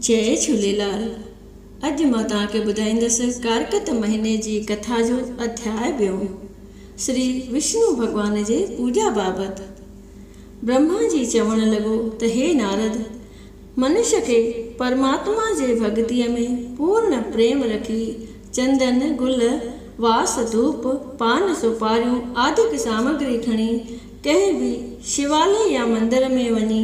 جئي جهوليلال اڄ مان توهان کي ٻڌائيندس ڪارڪت مهيني جي ڪٿا جو اڌياء ٻيون سري وشنو ڀڳوان جي پوڄا بابت برهما جي چوڻ لڳو ته هي نارد منش کي پرماتما جي ڀڳتي ۾ پورڻ پريم رکي چندن گل واس ڌوپ پان سوپاريون آدڪ سامگري کڻي ڪنهن به شيوالي يا مندر ۾ وڃي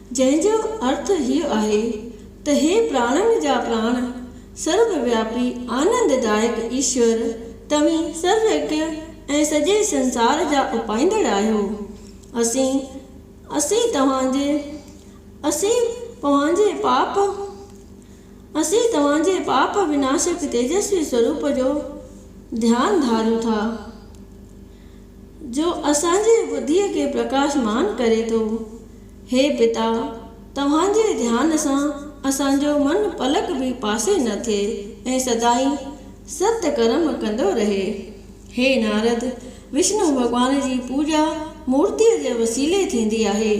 جنهن جو ارٿ هيء آهي ته هي پراڻن جا پراڻ، سرب وياپي آنند دائڪ ايشور، توهين سرو هڪ ۽ سڄي سنسار جا اپائيندڙ آهيو. اسين، اسين توهان جي، اسين پوهان جي پاپ، اسين توهان جي پاپ وناشڪ تيجسوي سوروپ جو ڌيان ڌاريون ٿا، جو اسان جي ٻڌيء کي پرڪاشمان ڪري ٿو. هي پتا! توهان جي ڌيان سان اسان جو من پلڪ به پاسي نه ٿئي ۽ سدائين ست ڪرم ڪندو رهي. هي نارد! وشنو ڀڳوان جي پوڄا مورتيء جي وسيلي ٿيندي آهي.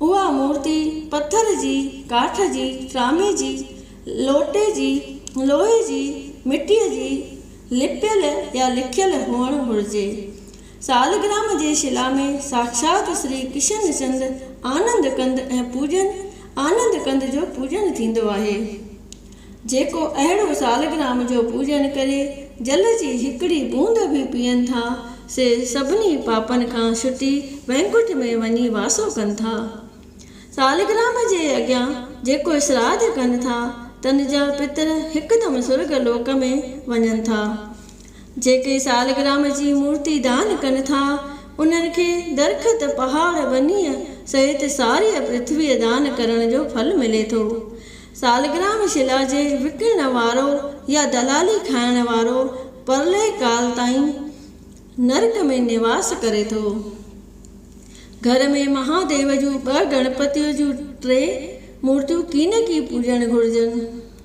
اها مورتي پٿر جي، ڪاٺ جي، ٽرامي جي، لوٽي جي، لوهي جي، مٽيء جي، لپيل يا لکيل هئڻ گهرجي. سالگرام جي شلا ۾ ساکشات شري ڪشن چند آنند ڪند ۽ پوڄن آنند ڪند جو پوڄن ٿيندو آهي. جيڪو اهڙو سالگرام جو پوڄن ڪري جل جي هڪڙي بوند به پيئن ٿا سي سڀني پاپن کان ڇٽي وينڪنٺ ۾ وڃي واسو ڪن ٿا. سالگرام جي اڳيان جيڪو شراڌ ڪن ٿا تن جا پتر هڪدم سرڳ لوڪ ۾ وڃن ٿا. جيڪي سالگرام جي مورتي دان ڪن ٿا، انهن کي درخت، پهاڙ، ٻنيء سهت ساريء پرٿويء دان ڪرڻ جو ڦل ملي ٿو. سالگرام شلا جي وڪڻڻ وارو يا دلالي کائڻ وارو پرلئه ڪال تائين نرڪ ۾ نواس ڪري ٿو. گهر ۾ مهاديو جون ٻه گڻپتيء جون ٽي مورتيون ڪين ڪي پوڄڻ گهرجن.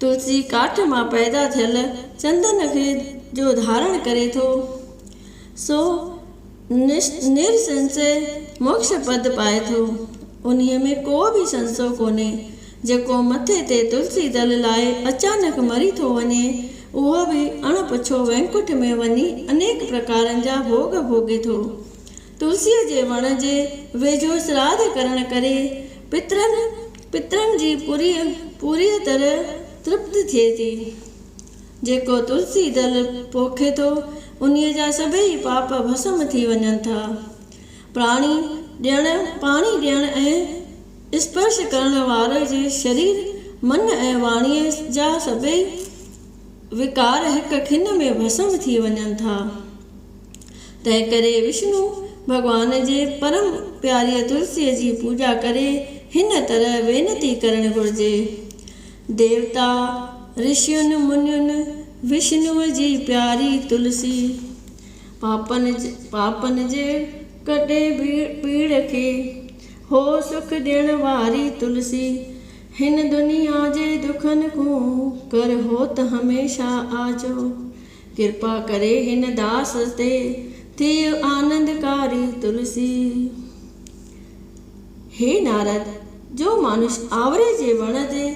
تلسي ڪاٺ مان پيدا ٿيل چندن کي جو ڌارڻ ڪري ٿو، سو نرسنسي موڪش پد پائي ٿو. انهيء ۾ ڪو به سنسو ڪونهي. جيڪو مٿي تي تلسي دل لاء اچانڪ مري ٿو وڃي، اهو به اڻ پڇو وينڪٺ ۾ وڃي انيڪ پرڪارن جا ڀوڳ ڀوڳي ٿو. تلسيء جي وڻ جي ويجهو سراڌ ڪرڻ ڪري پترن پترن جي پوريء پوريء طرح ترپت ٿئي ٿي. جيڪو تلسي دل پوکي ٿو، انهيء جا سڀيئي پاپ ڀسم ٿي وڃن ٿا. پراڻي ڏيڻ، پاڻي ڏيڻ ۽ اسپرش ڪرڻ واري جي شرير، من ۽ واڻيء جا سڀيئي وڪار هڪ کن ۾ ڀسم ٿي وڃن ٿا. تنهن ڪري وشنو ڀڳوان جي پرم پياريء تلسيء جي پوڄا ڪري هن طرح وينتي ڪرڻ گهرجي، ديوتا، رشين، منين، وشنوء جي پياري تلسي، پاپن پاپن جي ڪٽي پيڙ کي هو سک ڏيڻ واري تلسي، هن دنيا جي دکن کون ڪر هوت هميشه آجو. ڪرپا ڪري هن داس تي، ٿيء آنند ڪاري تلسي. هي نارد! جو مانش آوري جي وڻ جي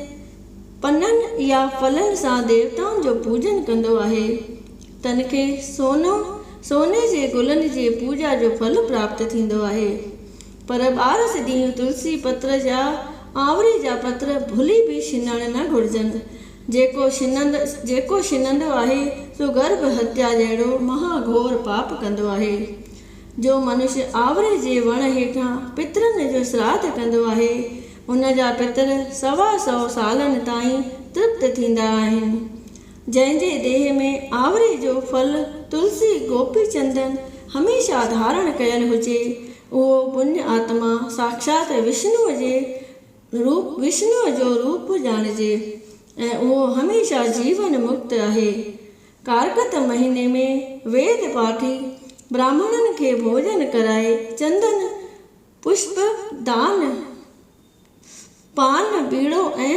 پنن يا ڦلن سان ديوتائن جو پوڄن ڪندو آهي، تن کي سونو، سوني جي گلن جي پوڄا جو ڦل پراپت ٿيندو آهي. پر ٻارس ڏينهن تلسي پتر يا آوري جا پتر ڀلي به شنڻ نه گهرجن. جيڪو شننڌ، جيڪو شننڌو آهي، سو گرڀ هتيا جهڙو مها گهور پاپ ڪندو آهي. جو منش آوري جي وڻ هيٺان پترن جو سراڌ ڪندو آهي، ان جا پتر سوا سئو سالن تائين ترپت ٿيندا آهن. جنهن جي ديهه ۾ آوري جو ڦل تلسي گوپي چندن هميشه ڌارڻ ڪيل هجي، اهو پڃ آتما ساکشات وشنوء جي روپ وشنوء جو روپ ڄاڻجي ۽ اهو هميشه جيون مڪت آهي. ڪارڪت مهيني ۾ ويد پاٺي براهمڻن کي ڀوڄن ڪرائي چندن، پشپ دان، پان، ٻيڙو ۽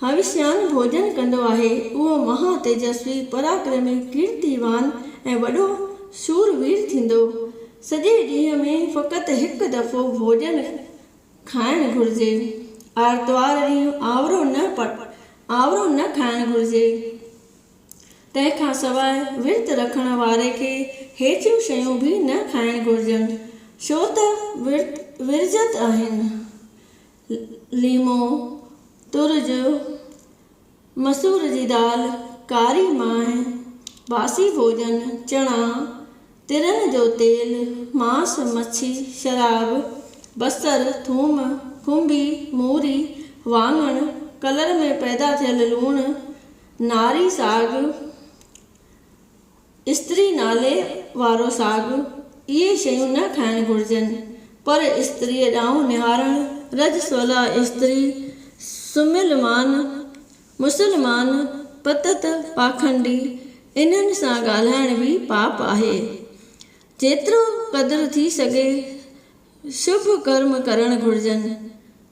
هوشيان ڀوڄن ڪندو آهي، اهو مها تيجسوي، پراڪرمي، ڪيرتيوان ۽ وڏو شور وير ٿيندو. سڄي ڏينهن ۾ فقط هڪ دفعو ڀوڄن کائڻ گهرجي. آرتوار ڏينهن آنورو نه آنورو نه کائڻ گهرجي. تنهن کان سواء ورت رکڻ واري کي هيٺيون شيون به نه کائڻ گهرجن، ڇو ته ورت ورجت آهن. ليمو، ترج، مسور جي دال، ڪاري مانء، باسي ڀوڄن، چڻا، ترهه جو تيل، ماس، مڇي، شراب، بصر، ٿوم، کنڀي، موري، واڱڻ، ڪلر ۾ پيدا ٿيل لوڻ، ناري ساڳ، استري نالي وارو ساڳ، اهي شيون نه کائڻ گهرجن، پر استريء ڏانهن نهارڻ. رجسولا استري، سمهيل مان، مسلمان، پتت، پاخنڊي، انهن سان ڳالهائڻ به پاپ آهي. جيترو قدر ٿي سگهي شڀ ڪرم ڪرڻ گهرجن.